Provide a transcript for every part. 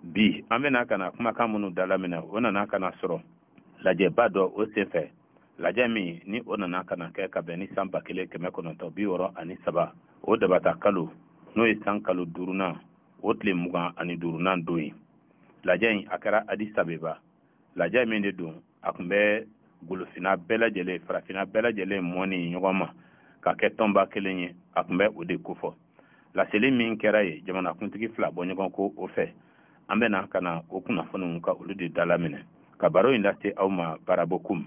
bi an bɛna ka na kumakan minnu dalaminɛ o nana ka na sɔrɔ lajɛba dɔ o senfɛ lajɛ min ni o nana ka na kɛ ka bɛn ni san ba kelen kɛmɛ kɔnɔntɔn bi wɔɔrɔ ani saba o dabata kalo n'o ye san kalo duurunan o tile mugan ani duurunan don ye lajɛ in a kɛra adisabeba lajɛ min de don a tun bɛ golofina bɛɛ lajɛlen farafina bɛɛ lajɛlen mɔni ɲɔgɔn ma ka kɛ tɔnba kelen ye a tun bɛ o de kofɔ laseli min kɛra yen jamanakuntigi fila bɔ ɲɔgɔn kɔ o fɛ an bɛna ka na o kunnafoniw ka olu de dalaminɛ ka baro in lase aw ma barabo kum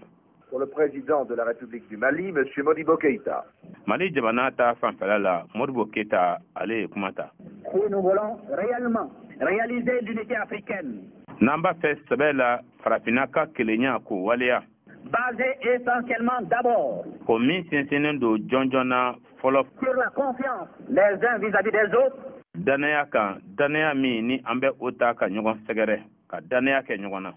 Pour le président de la République du Mali, M. Modibo Keïta. Mali jamana ta fanfɛla la, Modibo Keïta ale ye kuma ta. Si nous voulons réellement réaliser l'unité africaine. N'an b'a fɛ sɛbɛ la farafinna ka kelenya k'o waleya. Basé essentiellement d'abord. O min sinsinnen don jɔnjɔn na fɔlɔ. Sur la confiance les uns vis-à-vis des autres. Danaya kan, danaya min ni an bɛ o ta ka ɲɔgɔn sɛgɛrɛ, ka danaya kɛ ɲɔgɔn na.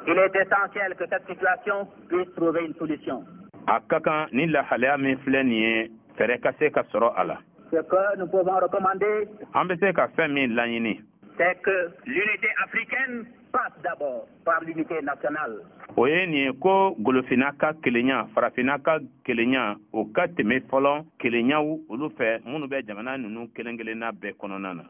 Il est essentiel que cette situation puisse trouver une solution. A ka kan ni lahalaya min filɛ nin ye fɛɛrɛ ka se ka sɔrɔ a la. Ce que nous pouvons recommander. An bɛ se ka fɛn min laɲini. C'est que l'unité africaine passe d'abord par l'unité nationale. O ye nin ye ko golofinna ka kelenya farafinna ka kelenya o ka tɛmɛ fɔlɔ kelenyaw olu fɛ minnu bɛ jamana ninnu kelen-kelenna bɛɛ kɔnɔna na.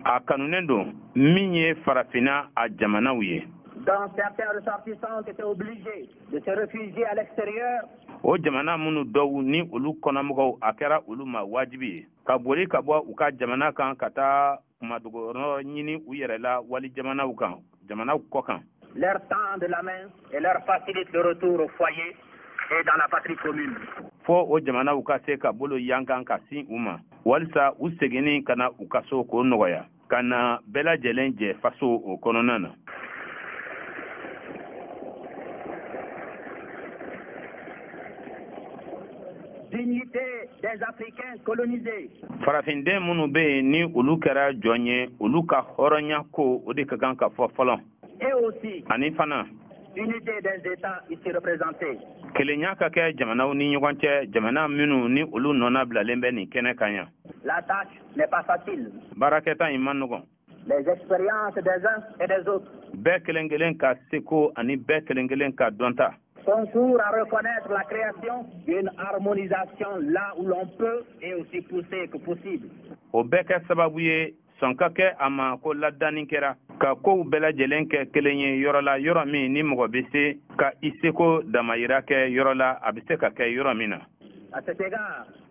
a kanunen don min ye farafinna a jamanaw ye o jamana minnu dɔw ni olu kɔnɔmɔgɔw a kɛra olu ma wajibi ye ka boli ka bɔ u ka jamana kan ka taa kunmadogoyɔrɔ ɲini u yɛrɛ la wali jamanaw kan jamanaw kɔ kan leur tendent la main et leur facilitent le retour au foyer et dans la patrie commune fo o jamanaw ka se ka bolo yankan ka sin u ma walisa u seginni ka na u ka so k'o nɔgɔya ka na bɛɛ lajɛlen jɛ faso o kɔnɔna na dignité des Africains colonisés. Farafinden minnu bɛ yen ni olu kɛra jɔn ye, olu ka hɔrɔnya ko o de ka kan ka fɔ fɔlɔ. Et aussi. Ani fana. Unité des États ici représentés. Kelenya ka kɛ jamanaw ni ɲɔgɔn cɛ, jamana minnu ni olu nɔnabilalen bɛ nin kɛnɛ kan yan. La tâche n'est pas facile. Baarakɛta in man nɔgɔn. les expériences des uns et des autres. Bɛɛ kelen kelen ka seko ani bɛɛ kelen kelen ka dɔnta. Concourent à reconnaître la création d'une harmonisation là où l'on peut et aussi poussée que possible. O bɛɛ kɛ sababu ye sɔn ka kɛ a ma ko ladanni kɛra ka kow bɛɛ lajɛlen kɛ kelen ye yɔrɔ la yɔrɔ min ni mɔgɔ bɛ se ka i seko damayira kɛ yɔrɔ la a bɛ se ka kɛ yɔrɔ min na.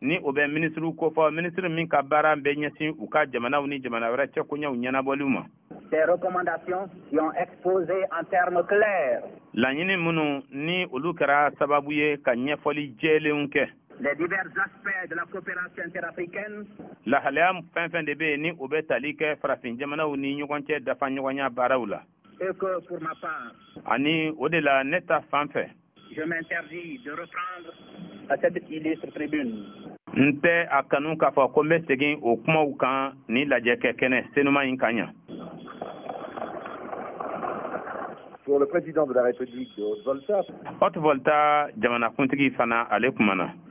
ni o bɛ minisiriw kofɔ minisiri min ka baara bɛ ɲɛsin u ka jamanaw ni jamana wɛrɛ cɛkoɲɛw ɲɛnabɔliw ma des recommandations qui ont exposé en termes clairs laɲini minnu ni olu kɛra sababu ye ka ɲɛfɔli jɛlenw kɛ les divers aspects de la coopération interafricaine lahalaya fɛn fɛn de bɛ yen ni o bɛ tali kɛ farafin jamanaw ni ɲɔgɔn cɛ dafa ɲɔgɔnya baaraw la Et que pour ma part. Ani o de la ne ta fan fɛ. Je m'interdis de reprendre à cette illustre tribune. N tɛ a kanu k'a fɔ ko n bɛ segin o kumaw kan nin lajɛkɛkɛnɛ senuma in kan yan. Pour le président de la République de Haute Volta. Haute Volta jamanakuntigi fana ale kumana.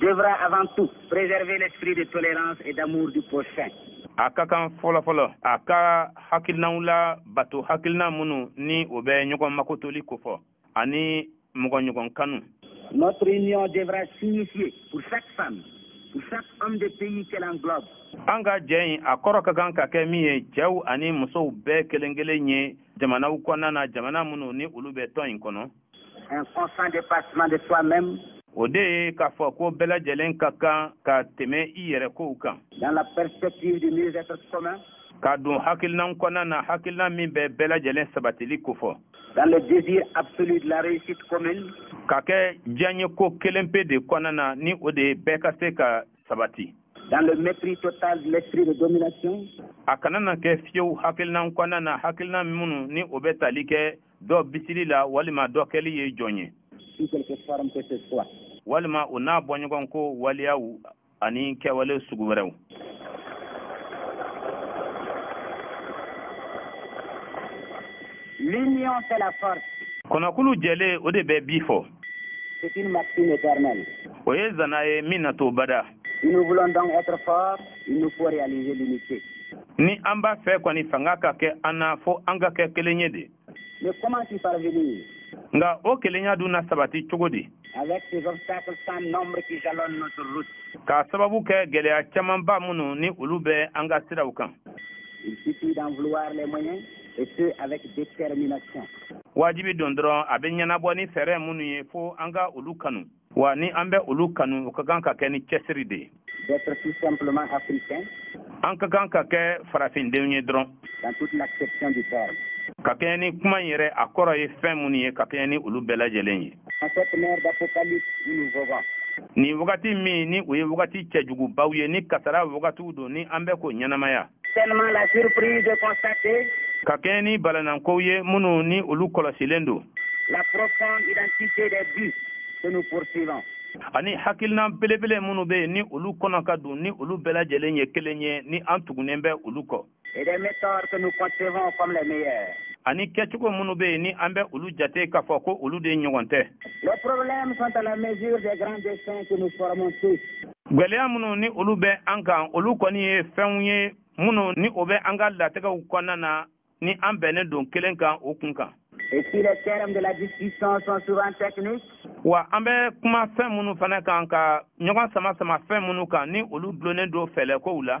Devra avant tout préserver l'esprit de tolérance et d'amour du prochain. A ka kan fɔlɔ fɔlɔ a ka hakilinaw labato hakilina minnu ni o bɛ ɲɔgɔn makotoli kofɔ ani mɔgɔɲɔgɔn kanu. Notre union devra signifier pour chaque femme, pour chaque homme de pays qu'elle englobe. An ka jɛ in a kɔrɔ ka kan ka kɛ min ye cɛw ani musow bɛɛ kelen kelen ye jamanaw kɔnɔna na jamana minnu ni olu bɛ tɔn in kɔnɔ Un constant dépassement de soi-même. O de ye k'a fɔ ko bɛɛ lajɛlen ka kan ka tɛmɛ i yɛrɛ kow kan. Dans la perspective du mieux-être commun. Ka don hakilinan kɔnɔna na hakilinan min bɛ bɛɛ lajɛlen sabatili kofɔ. Dans le désir absolu de la réussite commune. Ka kɛ diyaɲeko kelen pe de kɔnɔna na ni o de ye bɛɛ ka se ka sabati. Dans le mépris total de l'esprit de domination. A kana na kɛ fiyewu hakilinan kɔnɔna na hakilinan minnu ni o bɛ tali kɛ dɔ bisili la walima dɔ kɛli ye jɔn ye. Sous quelque forme que ce soit. Walima o n'a bɔɲɔgɔnko waleyaw ani kɛwale sugu wɛrɛw L'union fait la force. Kɔnɔkulu jɛlen o de bɛ bii fɔ. C'est une maxime éternelle. O ye zana ye min na to bada. Ni an b'a fɛ kɔni fanga ka kɛ an na fɔ an ka kɛ kelen ye de nka o kelenya dun na sabati cogo di ka sababu kɛ gɛlɛya camanba minnu ni olu bɛ an ka siraw kan wajibi don dɔrɔn a bɛ ɲɛnabɔ ni fɛɛrɛ minnu ye fo an ka olu kanu wa ni an bɛ olu kanu u ka kan ka kɛ ni cɛsiri de ye an ka kan ka kɛ farafindenw ye dɔrɔn ka kɛɲɛ ni kuma in yɛrɛ a kɔrɔ ye fɛn minnu ye ka kɛɲɛ ni olu bɛɛ lajɛlen ye nin wagati min ni o ye wagati cɛjugubaw ye ni kasara wagatiw don ni an bɛ k'o ɲɛnamaya Tellement la surprise de constater. Ka kɛɲɛ ni balanankow ye minnu ni olu kɔlɔsilen don. La profonde identité des buts que nous poursuivons. Ani hakilina belebele minnu bɛ yen ni olu kɔnɔ ka dun ni olu bɛɛ lajɛlen ye kelen ye ni an tugunnen bɛ olu kɔ. Et des méthodes que nous concevons comme les meilleures. Ani kɛcogo minnu bɛ yen ni an bɛ olu jate k'a fɔ ko olu de ɲɔgɔn tɛ. Les problèmes sont à la mesure des grands desseins que nous formons tous. gwɛlɛya minnu ni olu bɛ an kan olu kɔni ye fɛnw ye minnu ni o bɛ an ka latigɛw kɔnɔna na ni an bɛnnen don kelen kan o kun kan wa an bɛ kuma fɛn minnu fana kan ka ɲɔgɔn sama sama fɛn minnu kan ni olu dulonnen don fɛɛrɛkow la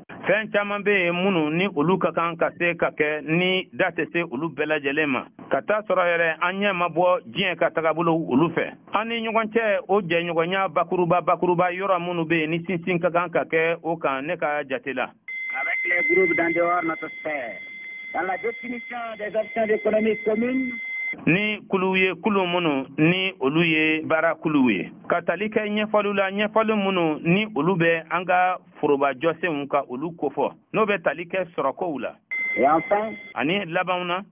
fɛn caman bɛ yen minnu ni olu ka kan ka se ka kɛ ni da tɛ se olu bɛɛ lajɛlen ma ka t'a sɔrɔ yɛrɛ an ɲɛ ma bɔ diɲɛ ka tagabolow olu fɛ an ni ɲɔgɔn cɛ o jɛɲɔgɔnya bakuruba bakuruba yɔrɔ minnu bɛ yen ni sinsin ka kan ka kɛ o kan ne ka jate la dans la définition des options économiques communes ni kuluw ye kulu minnu ni olu ye baara kuluw ye ka tali kɛ ɲɛfɔliw la ɲɛfɔli minnu ni olu bɛ an ka foroba jɔsenw ka olu kofɔ n'o bɛ tali kɛ sɔrɔkow la ani labanw na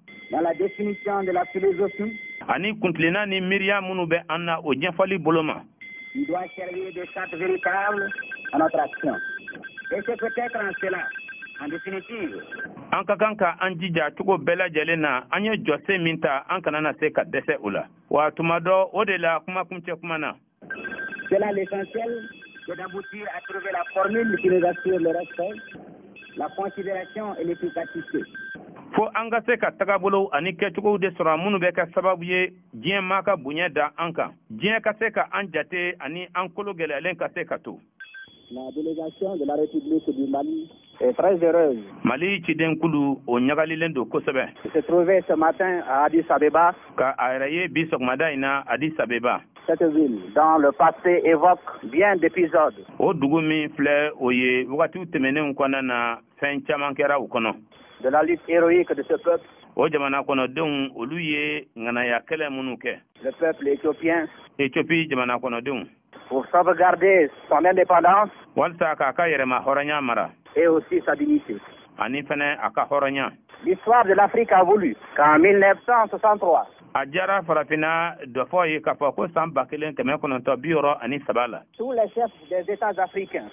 ani kuntilenna ni miiriya minnu bɛ an na o ɲɛfɔli bolo ma an ka kan ka an jija cogo bɛɛ lajɛlen na an ye jɔsen min ta an kana na se ka dɛsɛ o la wa tuma dɔ o de la kumakuncɛ kuma na C'est là l'essentiel, c'est d'aboutir à trouver la formule qui nous assure le respect, la considération et l'efficacité. fo an ka se ka tagabolow ani kɛcogow de sɔrɔ minnu bɛ kɛ sababu ye diɲɛ maa ka bonya da an kan diɲɛ ka se ka an jate ani an kolo gɛlɛyalen ka se ka to La délégation de la République du Mali est très heureuse. Mali cidenkulu o ɲagalilen don kosɛbɛ. De se trouver ce matin à Addis Abeba. Ka a yɛrɛ ye bi sɔgɔmada in na Addis Abeba. Cette ville, dont le passé évoque bien d'épisodes. O dugu min filɛ o ye wagatiw tɛmɛnenw kɔnɔna na fɛn caman kɛra o kɔnɔ. De la lutte héroïque de ce peuple. O jamana kɔnɔdenw olu ye ŋanaya kɛlɛ minnu kɛ. Le peuple éthiopien. Éthiopie jamana kɔnɔdenw. Pour sauvegarder son indépendance. Walisa k'a ka yɛrɛma hɔrɔnya mara. Et aussi sa dignité. Ani fɛnɛ a ka hɔrɔnya. L'histoire de l'Afrique a voulu qu'en 1963. A diyara farafinna dɔfɔ ye k'a fɔ ko san ba kelen kɛmɛ kɔnɔntɔ bi wɔɔrɔ ani saba la. Tous les chefs des États africains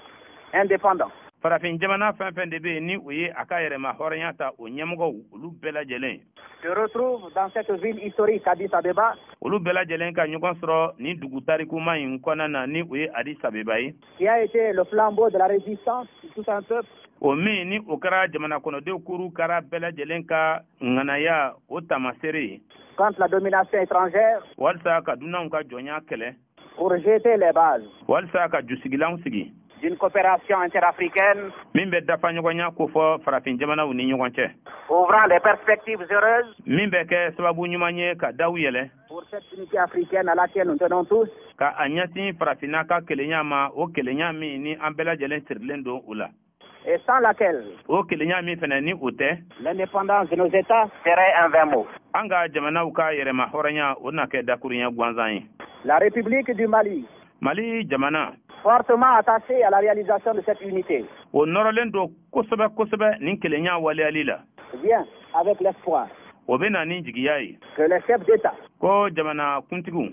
indépendants. Farafin jamana fɛn fɛn de bɛ yen ni o ye a ka yɛrɛma hɔrɔnya ta o ɲɛmɔgɔw olu bɛɛ lajɛlen. Se retrouvent dans cette ville historique Addis Abeba. Olu bɛɛ lajɛlen ka ɲɔgɔn sɔrɔ nin dugu tarikuma in kɔnɔna na ni o ye Addis Abeba ye. Qui a été le flambeau de la résistance de tout un peuple. O min ni o kɛra jamanakɔnɔdenw kuru kara bɛɛ lajɛlen ka ŋanaya o taamasere ye. Contre la domination étrangère. Walisa ka dunanw ka jɔnya kɛlɛ. pour jeter les bases. walisa ka jusigilanw sigi. d'une coopération interafricaine. min bɛ dafa ɲɔgɔnya kofɔ farafin jamanaw ni ɲɔgɔn cɛ. ouvrant des perspectives heureuses. min bɛ kɛ sababu ɲuman ye ka daw yɛlɛ. pour cette unité africaine à laquelle nous tenons tous. ka a ɲɛsin farafinna ka kelenya ma o kelenya min ni an bɛɛ lajɛlen sirilen don o la. et sans laquelle o kelenya min fɛnɛ ni o tɛ l'indépendance de nos états serait un vain mot an ka jamanaw ka yɛrɛma hɔrɔnya o na kɛ dakurunya gansan ye la république du mali mali jamana fortement attachée à la réalisation de cette unité o nɔrɔlen don kosɛbɛ kosɛbɛ nin kelenya waleyali la vient avec l'espoir o bɛ na ni jigiya ye que les chefs d'état ko jamana kuntigiw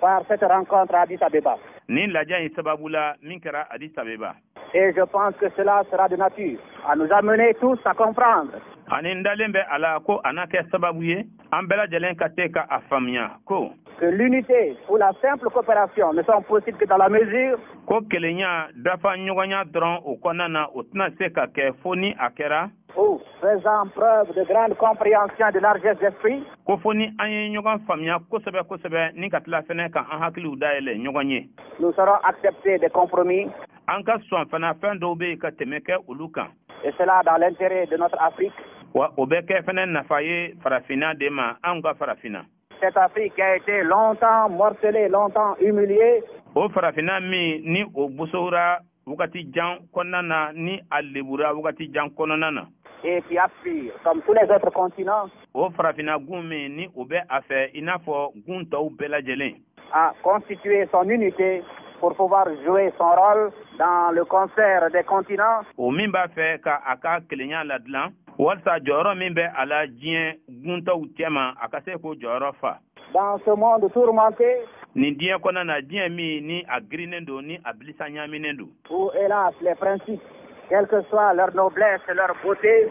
Par cette rencontre à Addis Abeba. Nin lajɛ in sababu la min kɛra Addis Abeba. Et je pense que cela sera de nature à nous amener tous à comprendre. Ani n dalen bɛ a la ko a na kɛ sababu ye an bɛɛ lajɛlen ka se ka a faamuya ko. Que l'unité ou la simple coopération ne sont possibles que dans la mesure. Ko kelenya dafa ɲɔgɔnya dɔrɔn o kɔnɔna na o tɛna se ka kɛ fo ni a kɛra. Où faisant preuve de grande compréhension de largesse d'esprit. Ko fo ni an ye ɲɔgɔn faamuya kosɛbɛ kosɛbɛ ni ka tila fɛnɛ ka an hakiliw dayɛlɛ ɲɔgɔn ye. Nous saurons accepter des compromis. An ka sɔn fana fɛn dɔw bɛ yen ka tɛmɛ kɛ olu kan. Et cela dans l'intérêt de notre Afrique. Wa o bɛ kɛ fɛnɛ nafa ye farafinna de ma anw ka farafinna. Cette Afrique qui a été longtemps morcelée, longtemps humiliée. O farafinna min ni o bosora wagati jan kɔnɔna na ni a lebura wagati jan kɔnɔna na et qui aspire, comme tous les autres continents. O farafinna gun min ni o bɛ a fɛ i n'a fɔ gun tɔw bɛɛ lajɛlen. À constituer son unité pour pouvoir jouer son rôle dans le concert des continents. O min b'a fɛ ka a ka kelenya ladilan walisa jɔyɔrɔ min bɛ a la diɲɛ gun tɔw cɛma a ka se k'o jɔyɔrɔ fa. Dans ce monde tourmenté, nin diɲɛ kɔnɔna na diɲɛ min ni a girinnen don ni a bilisa ɲaaminen don où hélas les principes quelle que soit leur noblesse et leur beauté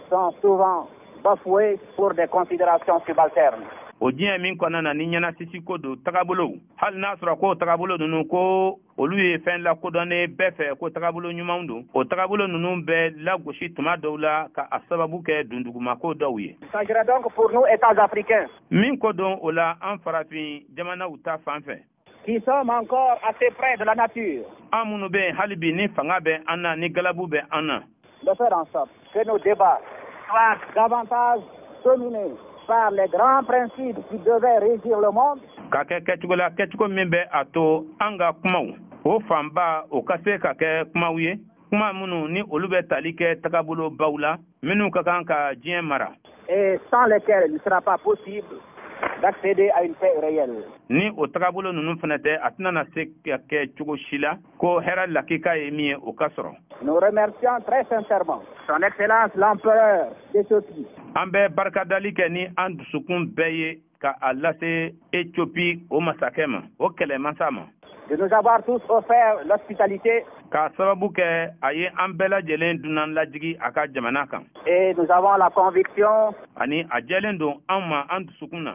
sont souvent bafoués pour des considérations subalternes o diɲɛ min kɔnɔna na ni ɲɛnasisi ko don tagabolow hali n'a sɔrɔ ko tagabolo ninnu ko olu ye fɛn lakodɔnnen bɛɛ fɛ ko tagabolo ɲumanw don o tagabolo ninnu bɛ lagosi tuma dɔw la ka a sababu kɛ dundugumako dɔw ye il s'agirait donc pour nous États africains min ko don o la an farafin jamanaw ta fan fɛ qui sommes encore assez près de la nature an minnu bɛ yen hali bi ni fanga bɛ an na ni galabu bɛ an na de faire en sorte que nos débats soient davantage dominés par les grands principes qui devaient régir le monde. Ka kɛ kɛcogo la kɛcogo min bɛ a to an ka kumaw o fanba o ka se ka kɛ kumaw ye kuma minnu ni olu bɛ tali kɛ tagabolo baw la minnu ka kan ka diɲɛ mara. Et sans lesquels il ne sera pas possible d'accéder à une paix réelle. Ni o tagabolo ninnu fana tɛ a tɛna na se ka kɛ cogo si la. ko hɛrɛ lakika ye min ye o ka sɔrɔ Nous remercions très sincèrement son excellence l'empereur d'Ethiopie. An bɛ barikadali kɛ ni an dusukun bɛɛ ye ka a lase Ethiopie o masakɛ ma, o kɛlɛmasa ma. De nous avoir tous offert l'hospitalité. K'a sababu kɛ a ye an bɛɛ lajɛlen dunan lajigi a ka jamana kan. Et nous avons la conviction. Ani a jɛlen don an ma an dusukun na.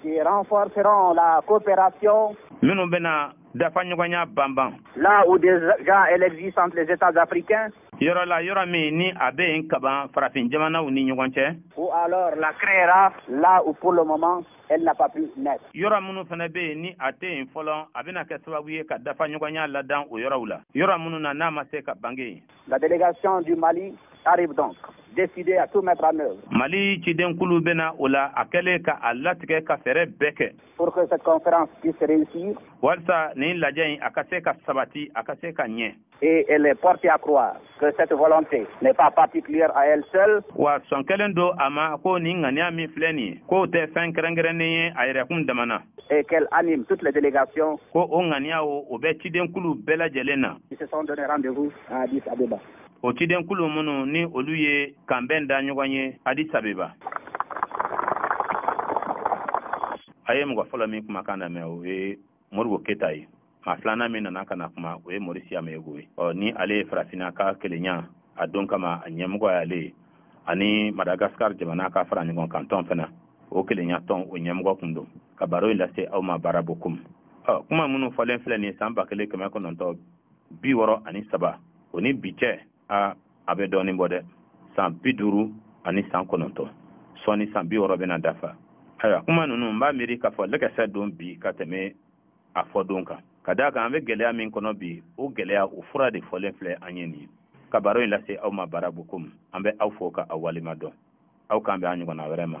qui renforceront la coopération minnu bɛna dafa ɲɔgɔnya banban là où déjà elle existe entre les États africains yɔrɔ la yɔrɔ min ni a bɛ yen kaban farafin jamanaw ni ɲɔgɔn cɛ ou alors la créera là où pour le moment elle n'a pas pu naître yɔrɔ minnu fana bɛ yen ni a tɛ yen fɔlɔ a bɛna kɛ sababu ye ka dafa ɲɔgɔnya ladan o yɔrɔw la yɔrɔ minnu na n'a ma se ka bange yen La délégation du Mali arrive donc décidée à tout mettre en œuvre. Mali cidenkulu bɛ na o la a kɛlen ka a latigɛ ka fɛɛrɛ bɛɛ kɛ. Pour que cette conférence puisse réussir. Walisa nin lajɛ in a ka se ka sabati a ka se ka ɲɛ. Et elle est portée à croire que cette volonté n'est pas particulière à elle seule. Wa sɔn kɛlen don a ma ko nin ŋaniya min filɛ nin ye k'o tɛ fɛn kɛrɛnkɛrɛnnen ye a yɛrɛkun dama na. et qu'elle anime toutes les délégations. Ko o ŋaniya o, o bɛ cidenkulu bɛɛ lajɛlen na. Qui se sont donné rendez-vous à Addis Abeba. O cidenkulu minnu ni olu ye kanbɛn da ɲɔgɔn ye Addis Abeba. A ye mɔgɔ fɔlɔ min kumakan lamɛn o ye Modibo Keyita ye. maa filanan min nana ka na kuma o ye maurice yameogo ye ɔ ni ale ye farafinna ka kelenya a don kama a ɲɛmɔgɔ y'ale ye ani madagascar jamana ka fara ɲɔgɔn kan tɔn fana o kelenya tɔn o ɲɛmɔgɔ kun don ka baro in lase aw ma bara bokum ɔ kuma minnu fɔlen filɛ nin san ba kelen kɛmɛ kɔnɔntɔ bi wɔɔrɔ ani saba o ni bi cɛ a a bɛ dɔɔnin bɔ dɛ san bi duuru ani san kɔnɔntɔ sɔɔni san bi wɔɔrɔ bɛna dafa ayiwa kuma ninnu n b'a miiri k'a fɔ lɛkɛsɛ don bi ka tɛmɛ a fɔ don kan ka d'a kan an bɛ gɛlɛya min kɔnɔ bi o gɛlɛya o fura de fɔlen filɛ an ye nin ye ka baro in lase aw ma bara bokum an bɛ aw fo ka aw waleɲuman dɔn aw k'an bɛn a ɲɔgɔnna wɛrɛ ma